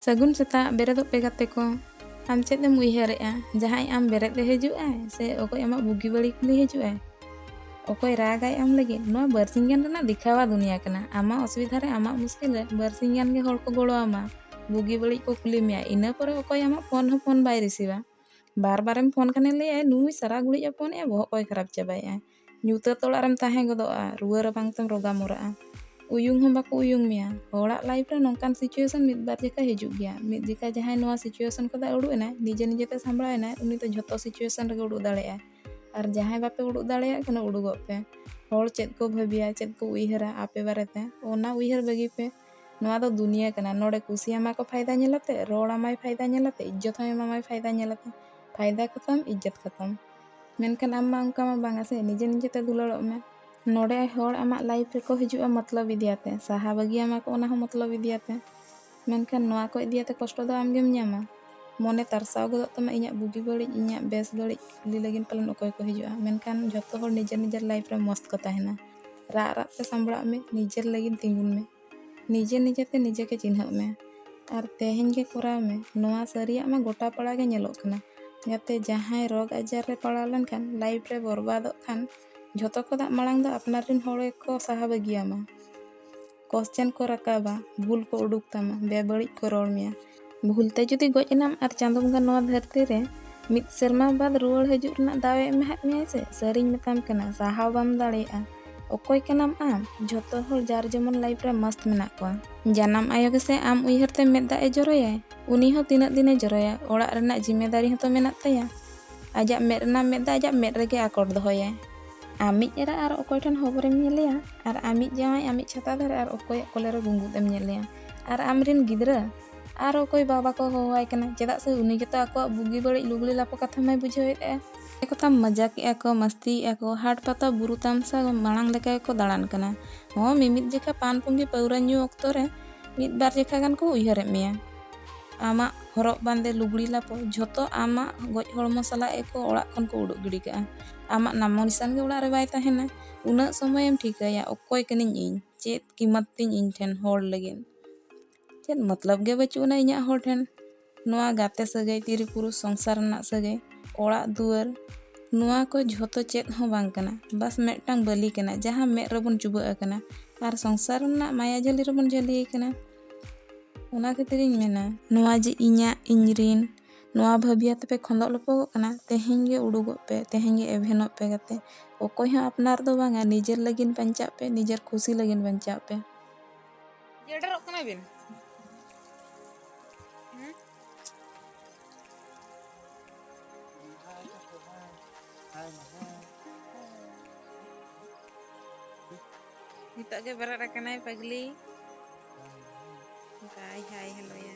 ᱥᱟᱹᱜᱩᱱ ᱥᱮᱛᱟᱜ ᱵᱮᱨᱮᱫᱚᱜ ᱯᱮ ᱜᱟᱛᱮ ᱠᱚ ᱟᱢ ᱪᱮᱫ ᱮᱢ ᱩᱭᱦᱟᱹᱨᱮᱜᱼᱟ ᱡᱟᱦᱟᱸᱭ ᱟᱢ ᱵᱮᱨᱮᱫ ᱮ ᱦᱤᱡᱩᱜ ᱟᱭ ᱥᱮ ᱚᱠᱚᱭ ᱟᱢᱟᱜ ᱵᱩᱜᱤ ᱵᱟᱹᱲᱤ ᱠᱩᱞᱤ ᱦᱤᱡᱩᱜ ᱟᱭ ᱚᱠᱚᱭ ᱨᱟᱜᱟᱭ ᱟᱢ ᱞᱟᱹᱜᱤᱫ ᱱᱚᱣᱟ ᱵᱟᱨᱥᱤᱧ ᱜᱟᱱ ᱨᱮᱱᱟᱜ ᱫᱮᱠᱷᱟᱣᱟ ᱫᱩᱱᱤᱭᱟ ᱠᱟᱱᱟ ᱟᱢᱟᱜ ᱚᱥᱩᱵᱤᱫᱷᱟ ᱨᱮ ᱟᱢᱟᱜ ᱢᱩᱥᱠᱤᱞ ᱨᱮ ᱵᱟᱨᱥᱤᱧ ᱜᱟᱱ ᱜᱮ ᱦᱚᱲ ᱠᱚ ᱜᱚᱲᱚ ᱟᱢᱟ ᱵᱩᱜᱤ ᱵᱟᱹᱲᱤ ᱠᱚ ᱠᱩᱞᱤ ᱢᱮᱭᱟ ᱤᱱᱟᱹ ᱯᱚᱨᱮ ᱚᱠᱚᱭ ᱟᱢᱟᱜ ᱯᱷᱳᱱ ᱦᱚᱸ ᱯᱷᱳᱱ ᱵᱟᱭ ᱨᱤᱥᱤᱵᱟ ᱵᱟᱨ ᱵᱟᱨᱮᱢ ᱯᱷᱳᱱ ᱠᱷᱟᱱᱮ ᱞᱟᱹᱭᱟᱭ ᱱᱩᱭ ᱥᱟᱨᱟ ᱜᱷᱩᱲᱤᱡ ᱮ ᱯᱷᱳᱱᱮᱜᱼᱟ ᱵᱚᱦᱚᱜ ᱠᱚᱭ ᱠᱷᱟᱨᱟᱯ ᱪᱟᱵᱟᱭᱮᱜᱼᱟ ᱧᱩᱛᱟᱹᱛ ᱚᱲᱟᱜ ᱨᱮᱢ ᱛᱟᱦᱮᱸ ᱜᱚᱫᱚᱜᱼᱟ ᱨᱩᱣᱟᱹ ᱨᱟᱵᱟᱝ ᱛᱮᱢ ᱨᱚᱜᱟ ᱢᱚᱨᱟᱜᱼᱟ ᱩᱭᱩᱝ ᱦᱚᱸ ᱵᱟᱠᱚ ᱩᱭᱩᱝ ᱢᱮᱭᱟ ᱦᱚᱲᱟᱜ ᱞᱟᱭᱤᱯᱷ ᱨᱮ ᱱᱚᱝᱠᱟᱱ ᱥᱤᱪᱩᱭᱮᱥᱚᱱ ᱢᱤᱫ ᱵᱟᱨ ᱡᱮᱠᱷᱟ ᱦᱤᱡᱩᱜ ᱜᱮᱭᱟ ᱢᱤᱫ ᱡᱮᱠᱷᱟ ᱡᱟᱦᱟᱸᱭ ᱱᱚᱣᱟ ᱥᱤᱪᱩᱭᱮᱥᱚᱱ ᱠᱷᱚᱱ ᱩᱰᱩᱠ ᱮᱱᱟᱭ ᱱᱤᱡᱮ ᱱᱤᱡᱮᱛᱮ ᱥᱟᱢᱵᱲᱟᱣ ᱮᱱᱟᱭ ᱩᱱᱤ ᱫᱚ ᱡᱷᱚᱛᱚ ᱥᱤᱪᱩᱭᱮᱥᱚᱱ ᱨᱮᱜᱮ ᱩᱰᱩᱠ ᱫᱟᱲᱮᱭᱟᱜᱼᱟᱭ ᱟᱨ ᱡᱟᱦᱟᱸᱭ ᱵᱟᱯᱮ ᱩᱰᱩᱠ ᱫᱟᱲᱮᱭᱟᱜ ᱠᱟᱱᱟ ᱩᱰᱩᱠᱚᱜ ᱯᱮ ᱦᱚᱲ ᱪᱮᱫ ᱠᱚ ᱵᱷᱟᱹᱵᱤᱭᱟ ᱪᱮᱫ ᱠᱚ ᱩᱭᱦᱟᱹᱨᱟ ᱟᱯᱮ ᱵᱟᱨᱮᱛᱮ ᱚᱱᱟ ᱩᱭᱦᱟᱹᱨ ᱵᱟᱹᱜᱤ ᱯᱮ ᱱᱚᱣᱟ ᱫᱚ ᱫᱩᱱᱤᱭᱟᱹ ᱠᱟᱱᱟ ᱱᱚᱰᱮ ᱠᱩᱥᱤᱭᱟᱢᱟ ᱠᱚ ᱯᱷᱟᱭᱫᱟ ᱧᱮᱞᱟᱛᱮ ᱨᱚᱲ ᱟᱢᱟᱭ ᱯᱷᱟᱭᱫᱟ ᱧᱮᱞᱟᱛᱮ ᱤᱡᱽᱡᱚᱛ ᱦᱚᱸ ᱮᱢᱟᱢᱟᱭ ᱯᱷᱟᱭᱫᱟ ᱧᱮᱞᱟᱛᱮ ᱯᱷᱟᱭᱫᱟ ᱠᱷᱟᱛᱚᱢ ᱤᱡᱽᱡᱚᱛ ᱠᱷᱟᱛᱚᱢ ᱢᱮᱱᱠᱷᱟᱱ ᱟᱢ ᱢᱟ ᱚᱱᱠᱟ ᱢᱟ ᱵᱟᱝᱟ ᱥᱮ ᱱᱤᱡᱮ ᱱᱤᱡᱮ ᱛᱮ ᱫᱩᱞᱟᱹᱲᱚᱜ ᱢᱮ ᱱᱚᱰᱮ ᱦᱚᱲ ᱟᱢᱟᱜ ᱞᱟᱭᱤᱯᱷ ᱨᱮᱠᱚ ᱦᱤᱡᱩᱜᱼᱟ ᱢᱚᱛᱞᱚᱵ ᱤᱫᱤᱭᱟᱛᱮ ᱥᱟᱦᱟ ᱵᱟᱹᱜᱤᱭᱟᱢᱟ ᱠᱚ ᱚᱱᱟ ᱦᱚᱸ ᱢᱚᱛᱞᱚᱵ ᱤᱫᱤᱭᱟᱛᱮ ᱢᱮᱱᱠᱷᱟᱱ ᱱᱚᱣᱟ ᱠᱚ ᱤᱫᱤᱭᱟᱛᱮ ᱠᱚᱥᱴᱚ ᱫᱚ ᱟᱢᱜᱮᱢ ᱧᱟᱢᱟ ᱢᱚᱱᱮ ᱛᱟᱨᱥᱟᱣ ᱜᱚᱫᱚᱜ ᱛᱟᱢᱟ ᱤᱧᱟᱹᱜ ᱵᱩᱜᱤ ᱵᱟᱹᱲᱤᱡ ᱤᱧᱟᱹᱜ ᱵᱮᱥ ᱵᱟᱹᱲᱤᱡ ᱠᱩᱞᱤ ᱞᱟᱹᱜᱤᱫ ᱯᱟᱞᱮᱱ ᱚᱠᱚᱭ ᱠᱚ ᱦᱤᱡᱩᱜᱼᱟ ᱢᱮᱱᱠᱷᱟᱱ ᱡᱚᱛᱚ ᱦᱚᱲ ᱱᱤᱡᱮᱨ ᱱᱤᱡᱮᱨ ᱞᱟᱭᱤᱯᱷ ᱨᱮ ᱢᱚᱥᱛ ᱠᱚ ᱛᱟᱦᱮᱱᱟ ᱨᱟᱜ ᱨᱟᱜ ᱛᱮ ᱥᱟᱢᱵᱽᱲᱟᱜ ᱢᱮ ᱱᱤᱡᱮᱨ ᱞᱟᱹᱜᱤᱫ ᱛᱤᱸᱜᱩᱱ ᱢᱮ ᱱᱤᱡᱮ ᱱᱤᱡᱮ ᱛᱮ ᱱᱤᱡᱮ ᱜᱮ ᱪᱤᱱᱦᱟᱹᱜ ᱢᱮ ᱟᱨ ᱛᱮᱦᱮᱧ ᱜᱮ ᱠᱚᱨᱟᱣ ᱢᱮ ᱱᱚᱣᱟ ᱥᱟᱹᱨᱤᱭᱟᱜ ᱢᱟ ᱜᱚᱴᱟ ᱯᱟᱲᱟ ᱜᱮ ᱧᱮᱞᱚᱜ ᱠᱟᱱᱟ ᱡᱟᱛᱮ ᱡᱟᱦᱟᱸᱭ ᱨᱳᱜᱽ ᱟᱡᱟᱨ ᱨᱮ ᱯᱟᱲᱟᱣ ᱞᱮᱱᱠᱷᱟᱱ ᱞᱟᱭᱤᱯᱷ ᱨᱮ ᱵᱚᱨᱵᱟᱫᱚᱜ ᱠᱷᱟᱱ ᱡᱷᱚᱛᱚ ᱠᱷᱚᱱᱟᱜ ᱢᱟᱲᱟᱝ ᱫᱚ ᱟᱯᱱᱟᱨ ᱨᱮᱱ ᱦᱚᱲ ᱜᱮᱠᱚ ᱥᱟᱦᱟ ᱵᱟᱹᱜᱤᱭᱟᱢᱟ ᱠᱚᱥᱪᱮᱱ ᱠᱚ ᱨᱟᱠᱟᱵᱟ ᱵᱷᱩᱞ ᱠᱚ ᱩᱰᱩᱠ ᱛᱟᱢᱟ ᱵᱮᱵᱟᱹᱲᱤᱡ ᱠᱚ ᱨᱚᱲ ᱢᱮᱭᱟ ᱵᱷᱩᱞ ᱛᱮ ᱡᱩᱫᱤ ᱜᱚᱡ ᱮᱱᱟᱢ ᱟᱨ ᱪᱟᱸᱫᱚ ᱵᱚᱸᱜᱟ ᱱᱚᱣᱟ ᱫᱷᱟᱹᱨᱛᱤ ᱨᱮ ᱢᱤᱫ ᱥᱮᱨᱢᱟ ᱵᱟᱫ ᱨᱩᱣᱟᱹᱲ ᱦᱤᱡᱩᱜ ᱨᱮᱱᱟᱜ ᱫᱟᱣ ᱮ ᱮᱢᱟᱦᱟᱫ ᱢᱮᱭᱟᱭ ᱥᱮ ᱥᱟᱹᱨᱤᱧ ᱢᱮᱛᱟᱢ ᱠᱟᱱᱟ ᱥᱟᱦᱟᱣ ᱵᱟᱢ ᱫᱟᱲᱮᱭᱟᱜᱼᱟ ᱚᱠᱚᱭ ᱠᱟᱱᱟᱢ ᱟᱢ ᱡᱷᱚᱛᱚ ᱦᱚᱲ ᱡᱟᱨ ᱡᱮᱢᱚᱱ ᱞᱟᱭᱤᱯ ᱨᱮ ᱢᱟᱥᱛ ᱢᱮᱱᱟᱜ ᱠᱚᱣᱟ ᱡᱟᱱᱟᱢ ᱟᱭᱳ ᱜᱮᱥᱮ ᱟᱢ ᱩᱭᱦᱟᱹᱨ ᱛᱮ ᱢᱮᱫ ᱫᱟᱜ ᱮ ᱡᱚᱨᱚᱭᱟᱭ ᱩᱱᱤ ᱦᱚᱸ ᱛᱤᱱᱟᱹᱜ ᱫᱤᱱ ᱮ ᱡᱚᱨᱚᱭᱟ ᱚᱲᱟᱜ ᱨᱮᱱᱟᱜ ᱡᱤᱢᱮᱫᱟᱨᱤ ᱦᱚᱸᱛᱚ ᱢᱮᱱᱟᱜ ᱛᱟᱭᱟ ᱟᱡᱟᱜ ᱢᱮᱫ ᱨᱮᱱᱟᱜ ᱢᱮᱫ ᱫᱟᱜ ᱟᱡᱟᱜ ᱢᱮᱫ ᱨᱮᱜᱮ ᱟᱠᱚᱴ ᱫᱚᱦᱚᱭᱟᱭ ᱟᱢᱤᱡ ᱮᱨᱟ ᱟᱨ ᱚᱠᱚᱭ ᱴᱷᱮᱱ ᱦᱚᱵᱚᱨᱮᱢ ᱧᱮᱞᱮᱭᱟ ᱟᱨ ᱟᱢᱤᱡ ᱡᱟᱶᱟᱭ ᱟᱢᱤᱡ ᱪᱷᱟᱛᱟ ᱫᱷᱟᱨᱮ ᱟᱨ ᱚᱠᱚᱭᱟᱜ ᱠᱚᱞᱮ ᱨᱮ ᱜᱩᱸᱜᱩᱫ ᱮᱢ ᱧᱮᱞᱮᱭᱟ ᱟᱨ ᱟᱢᱨᱮᱱ ᱜᱤᱫᱽᱨᱟᱹ ᱟᱨ ᱚᱠᱚᱭ ᱵᱟᱵᱟ ᱠᱚ ᱦᱚᱦᱚᱣᱟᱭ ᱠᱟᱱᱟ ᱪᱮᱫᱟᱜ ᱥᱮ ᱩᱱᱤ ᱜᱮᱛᱚ ᱟᱠᱚᱣᱟᱜ ᱵᱩᱜᱤ ᱵᱟᱹᱲᱤᱡ ᱞᱩᱜᱽᱲᱤ ᱞᱟᱯᱚ ᱠᱟᱛᱷᱟ ᱢᱟᱭ ᱵᱩᱡᱷᱟᱹᱣᱮᱫᱼᱟ ᱮᱠᱚ ᱛᱟᱢ ᱢᱟᱡᱟᱠᱮᱜᱼᱟ ᱠᱚ ᱢᱟᱥᱛᱤᱭᱮᱜᱼᱟ ᱠᱚ ᱦᱟᱴ ᱯᱟᱛᱟ ᱵᱩᱨᱩ ᱛᱟᱢᱥᱟ ᱢᱟᱲᱟᱝ ᱞᱮᱠᱟ ᱜᱮᱠᱚ ᱫᱟᱬᱟᱱ ᱠᱟᱱᱟ ᱦᱚᱸ ᱢᱤᱢᱤᱫ ᱡᱮᱠᱷᱟ ᱯᱟᱱ ᱯᱩᱸᱜᱤ ᱯᱟᱹᱣᱨᱟᱹ ᱧᱩ ᱚᱠᱛᱚ ᱨᱮ ᱢᱤᱫ ᱵᱟᱨ ᱡᱮᱠᱷᱟ ᱜᱟᱱ ᱠᱚ ᱩᱭᱦᱟᱹᱨᱮᱫ ᱢᱮᱭᱟ ᱟᱢᱟᱜ ᱦᱚᱨᱚᱜ ᱵᱟᱸᱫᱮ ᱞᱩᱜᱽᱲᱤ ᱞᱟᱯᱚ ᱡᱷᱚᱛᱚ ᱟᱢᱟᱜ ᱜᱚᱡ ᱦᱚᱲᱢᱚ ᱥᱟᱞᱟᱜ ᱜᱮᱠᱚ ᱚᱲᱟᱜ ᱠᱷᱚᱱ ᱠᱚ ᱩᱰᱩᱠ ᱜᱤᱰᱤ ᱠᱟᱜᱼᱟ ᱟᱢᱟᱜ ᱱᱟᱢᱚ ᱱᱤᱥᱟᱱ ᱜᱮ ᱚᱲᱟᱜ ᱨᱮ ᱵᱟᱭ ᱛᱟᱦᱮᱱᱟ ᱩᱱᱟᱹᱜ ᱥᱚᱢᱚᱭᱮᱢ ᱴᱷᱤᱠᱟᱹᱭᱟ ᱚᱠᱚᱭ ᱠᱟᱹᱱᱟᱹᱧ ᱤᱧ ᱪᱮᱫ ᱠᱤᱢᱟᱛ ᱛᱤᱧ ᱤᱧ ᱴᱷᱮᱱ ᱦᱚᱲ ᱞᱟᱹᱜᱤᱫ ᱪᱮᱫ ᱢᱚᱛᱞᱚᱵ ᱜᱮ ᱵᱟᱹᱪᱩᱜ ᱟᱱᱟ ᱤᱧᱟᱹᱜ ᱦᱚᱲ ᱴᱷᱮᱱ ᱱᱚᱣᱟ ᱜᱟᱛᱮ ᱥᱟᱹᱜᱟᱹᱭ ᱛᱤᱨᱤ ᱯᱩᱨᱩᱥ ᱥᱚᱝᱥᱟᱨ ᱨᱮᱱᱟᱜ ᱥᱟᱹᱜᱟᱹᱭ ᱚᱲᱟᱜ ᱫᱩᱣᱟᱹᱨ ᱱᱚᱣᱟ ᱠᱚ ᱡᱷᱚᱛᱚ ᱪᱮᱫ ᱦᱚᱸ ᱵᱟᱝ ᱠᱟᱱᱟ ᱵᱟᱥ ᱢᱤᱫᱴᱟᱝ ᱵᱟᱹᱞᱤ ᱠᱟᱱᱟ ᱡᱟᱦᱟᱸ ᱢᱮᱫ ᱨᱮᱵᱚᱱ ᱪᱩᱵᱟᱹᱜ ᱟᱠᱟᱱᱟ ᱟᱨ ᱥᱚᱝᱥᱟᱨ ᱨᱮᱱᱟᱜ ᱢᱟᱭᱟ ᱡᱷᱟᱹᱞᱤ ᱨᱮᱵᱚᱱ ᱡᱷᱟᱹᱞᱤ ᱟᱠᱟᱱᱟ ᱚᱱᱟ ᱠᱷᱟᱹᱛᱤᱨᱤᱧ ᱢᱮᱱᱟ ᱱᱚᱣᱟ ᱡᱮ ᱤᱧᱟᱹᱜ ᱤᱧ ᱨᱮᱱ ᱱᱚᱣᱟ ᱵᱷᱟᱹᱵᱤᱭᱟ ᱛᱮᱯᱮ ᱠᱷᱚᱸᱫᱚᱜ ᱞᱚᱯᱚᱜᱚᱜ ᱠᱟᱱᱟ ᱛᱮᱦᱮᱧ ᱜᱮ ᱩᱰᱩᱠᱚᱜ ᱯᱮ ᱛᱮᱦᱮᱧ ᱜᱮ ᱮᱵᱷᱮᱱᱚᱜ ᱯᱮ ᱜᱟᱛᱮ ᱚᱠᱚᱭ ᱦᱚᱸ ᱟᱯᱱᱟᱨ ᱫᱚ ᱵᱟᱝᱟ ᱱᱤᱡᱮᱨ ᱞᱟᱹᱜᱤᱫ ᱵᱟᱧᱪᱟᱜ ᱯᱮ ᱱᱤᱡᱮᱨ ᱠᱷᱩᱥᱤ ᱞᱟᱹᱜᱤᱫ ᱵᱟᱧᱪᱟᱜ ᱯᱮ ᱡᱮᱰᱮᱨᱚᱜ ᱠᱟᱱᱟ ᱵᱤᱱ ᱱᱤᱛᱚᱜ ᱜᱮ ᱵᱮᱨᱮᱫ ᱟᱠᱟᱱᱟᱭ ᱯᱟᱜᱽᱞᱤ ᱵᱟᱭ ᱦᱟᱭ ᱦᱮᱞᱳᱭᱟ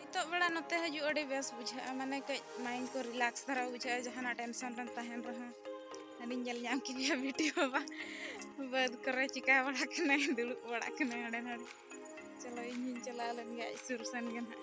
ᱱᱤᱛᱚᱜ ᱵᱮᱲᱟ ᱱᱚᱛᱮ ᱦᱤᱡᱩᱜ ᱟᱹᱰᱤ ᱵᱮᱥ ᱵᱩᱡᱷᱟᱹᱜᱼᱟ ᱢᱟᱱᱮ ᱠᱟᱹᱡ ᱢᱟᱭᱤᱱᱰ ᱠᱚ ᱨᱤᱞᱟᱠᱥ ᱫᱷᱟᱨᱟ ᱵᱩᱡᱷᱟᱹᱜᱼᱟ ᱡᱟᱦᱟᱱᱟᱜ ᱴᱮᱱᱥᱚᱱ ᱨᱮᱢ ᱛᱟᱦᱮᱱ ᱨᱮᱦᱚᱸ ᱟᱹᱞᱤᱧ ᱧᱮᱞ ᱧᱟᱢ ᱠᱤᱱᱟ ᱵᱤᱴᱤ ᱵᱟᱵᱟ ᱵᱟᱹᱫᱽ ᱠᱚᱨᱮ ᱪᱤᱠᱟ ᱵᱟᱲᱟ ᱠᱟᱱᱟᱭ ᱫᱩᱲᱩᱵ ᱵᱟᱲᱟ ᱠᱟᱱᱟᱭ ᱦᱟᱸᱰᱮ ᱱᱟᱰᱮ ᱪᱚᱞᱚ ᱤᱧ ᱦᱚᱧ ᱪᱟᱞᱟᱣ ᱞᱮᱱ ᱜᱮ ᱟᱡ ᱥᱩᱨ ᱥᱮᱱ ᱜᱮ ᱱᱟᱦᱟᱜ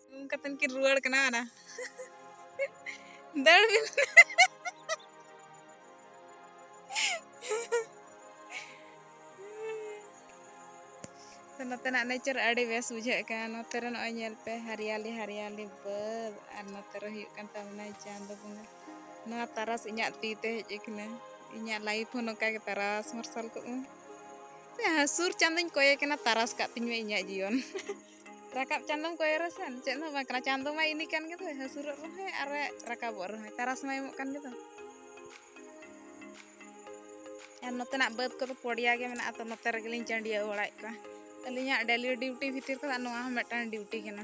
ᱩᱢ ᱠᱟᱛᱮᱱ ᱠᱤᱱ ᱨᱩᱣᱟᱹᱲ ᱠᱟᱱᱟ ᱚᱱᱟ ᱫᱟᱹᱲ ᱵᱤᱱ ᱛᱚ ᱱᱚᱛᱮᱱᱟᱜ ᱱᱮᱪᱟᱨ ᱟᱹᱰᱤ ᱵᱮᱥ ᱵᱩᱡᱷᱟᱹᱜ ᱠᱟᱱᱟ ᱱᱚᱛᱮ ᱨᱮ ᱱᱚᱜᱼᱚᱭ ᱧᱮᱞ ᱯᱮ ᱦᱟᱨᱤᱭᱟᱞᱤ ᱦᱟᱨᱤᱭᱟᱞᱤ ᱵᱟᱹᱫ ᱟᱨ ᱱᱚᱛᱮ ᱨᱮ ᱦᱩᱭᱩᱜ ᱠᱟᱱ ᱛᱟᱵᱚᱱᱟ ᱪᱟᱸᱫᱚ ᱵᱚᱸᱜᱟ ᱱᱚᱣᱟ ᱛᱟᱨᱟᱥ ᱤᱧᱟᱹᱜ ᱛᱤ ᱛᱮ ᱦᱮᱡ ᱟᱠᱟᱱᱟ ᱤᱧᱟᱹᱜ ᱞᱟᱭᱤᱯᱷ ᱦᱚᱸ ᱱᱚᱝᱠᱟ ᱜᱮ ᱛᱟᱨᱟᱥ ᱢᱟᱨᱥᱟᱞ ᱠᱚᱜᱼᱟ ᱦᱟᱹᱥᱩᱨ ᱪᱟᱸᱫᱚᱧ ᱠᱚᱭᱮ ᱠᱟᱱᱟ ᱛᱟᱨᱟᱥ ᱠᱟᱜ ᱛᱤᱧ ᱢᱮ ᱤᱧᱟᱹᱜ ᱡᱤᱭᱚᱱ ᱨᱟᱠᱟᱵ ᱪᱟᱸᱫᱚᱢ ᱠᱚᱭᱚᱜ ᱨᱮᱥᱮᱱ ᱪᱮᱫ ᱦᱚᱸ ᱵᱟᱝ ᱠᱟᱱᱟ ᱪᱟᱸᱫᱚ ᱢᱟ ᱤᱱᱤ ᱠᱟᱱ ᱜᱮᱫᱚ ᱦᱟᱹᱥᱩᱨᱚᱜ ᱨᱮᱦᱚᱸ ᱟᱨ ᱨᱟᱠᱟᱵᱚᱜ ᱨᱮᱦᱚᱸ ᱛᱟᱨᱟᱥ ᱢᱟ ᱮᱢᱚᱜ ᱠᱟᱱ ᱜᱮᱫᱚ ᱟᱨ ᱱᱚᱛᱮᱱᱟᱜ ᱵᱟᱹᱫᱽ ᱠᱚᱫᱚ ᱯᱚᱲᱤᱭᱟ ᱜᱮ ᱢᱮᱱᱟᱜᱼᱟ ᱛᱚ ᱱᱚᱛᱮ ᱨᱮᱜᱮᱞᱤᱧ ᱪᱟᱹᱰᱤᱭᱟᱹᱣ ᱵᱟᱲᱟᱭᱮᱫ ᱠᱚᱣᱟ ᱟᱹᱞᱤᱧᱟᱜ ᱰᱮᱞᱤ ᱰᱤᱣᱩᱴᱤ ᱵᱷᱤᱛᱤᱨ ᱠᱷᱚᱱᱟᱜ ᱱᱚᱣᱟ ᱦᱚᱸ ᱢᱤᱫᱴᱟᱝ ᱰᱤᱣᱩᱴᱤ ᱠᱟᱱᱟ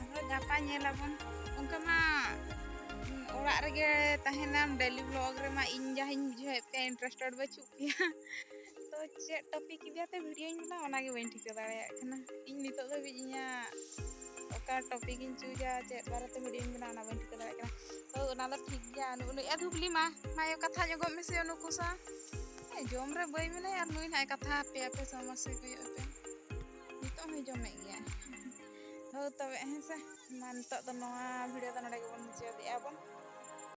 ᱟᱨᱦᱚᱸ ᱜᱟᱯᱟ ᱧᱮᱞ ᱟᱵᱚᱱ ᱚᱱᱠᱟ ᱢᱟ ᱚᱲᱟᱜ ᱨᱮᱜᱮ ᱛᱟᱦᱮᱱᱟᱢ ᱰᱮᱞᱤ ᱵᱞᱚᱜ ᱨᱮᱢᱟ ᱤᱧ ᱡᱟᱦᱟᱸᱧ ᱵᱩᱡᱷᱟᱹᱣᱮᱫ ᱯᱮᱭᱟ ᱤᱱᱴᱟᱨᱮᱥᱴᱮᱰ ᱵᱟᱹᱪᱩᱜ ᱯᱮᱭᱟ ᱛᱚ ᱪᱮᱫ ᱴᱚᱯᱤᱠ ᱤᱫᱤ ᱠᱟᱛᱮ ᱵᱷᱤᱰᱤᱭᱳᱧ ᱵᱮᱱᱟᱣᱟ ᱚᱱᱟᱜᱮ ᱵᱟᱹᱧ ᱴᱷᱤᱠᱟᱹ ᱫᱟᱲᱮᱭᱟᱜ ᱠᱟᱱᱟ ᱤᱧ ᱱᱤᱛᱚᱜ ᱫᱷᱟᱹᱵᱤᱡ ᱤᱧᱟᱹᱜ ᱚᱠᱟ ᱴᱚᱯᱤᱠ ᱤᱧ ᱪᱩᱡᱟ ᱪᱮᱫ ᱵᱟᱨᱮᱛᱮ ᱵᱷᱤᱰᱤᱭᱳᱧ ᱵᱮᱱᱟᱣᱟ ᱚᱱᱟ ᱵᱟᱹᱧ ᱴᱷᱤᱠᱟᱹ ᱫᱟᱲᱮᱭᱟᱜ ᱠᱟᱱᱟ ᱛᱚ ᱚᱱᱟ ᱫᱚ ᱴᱷᱤᱠ ᱜᱮᱭᱟ ᱩᱱᱩ ᱮ ᱫᱷᱩᱵᱞᱤ ᱢᱟ ᱢᱟᱭᱚ ᱠᱟᱛᱷᱟ ᱧᱚᱜᱚᱜ ᱢᱮᱥᱮ ᱩᱱᱩᱠᱩ ᱥᱟᱶ ᱡᱚᱢ ᱨᱮ ᱵᱟᱹᱭ ᱢᱮᱱᱟᱭᱟ ᱟᱨ ᱱᱩᱭ ᱱᱟᱜ ᱠᱟᱛᱷᱟ ᱟᱯᱮ ᱟᱯᱮ ᱥᱚᱢᱚᱥᱥᱟ ᱠᱚᱭᱚᱜ ᱯᱮ ᱱᱤᱛᱚᱜ ᱦᱚᱸᱭ ᱡᱚᱢᱮᱫ ᱜᱮᱭᱟ ᱦᱳᱭ ᱛᱚᱵᱮ ᱦᱮᱸᱥᱮ ᱢᱟ ᱱᱤᱛᱚᱜ ᱫᱚ ᱱᱚᱣᱟ ᱵᱷᱤᱰᱤᱭᱳ ᱫᱚ ᱱᱚᱰᱮ ᱜᱮᱵᱚᱱ ᱢᱩᱪᱟᱹᱫᱮᱜᱼᱟ ᱵᱚᱱ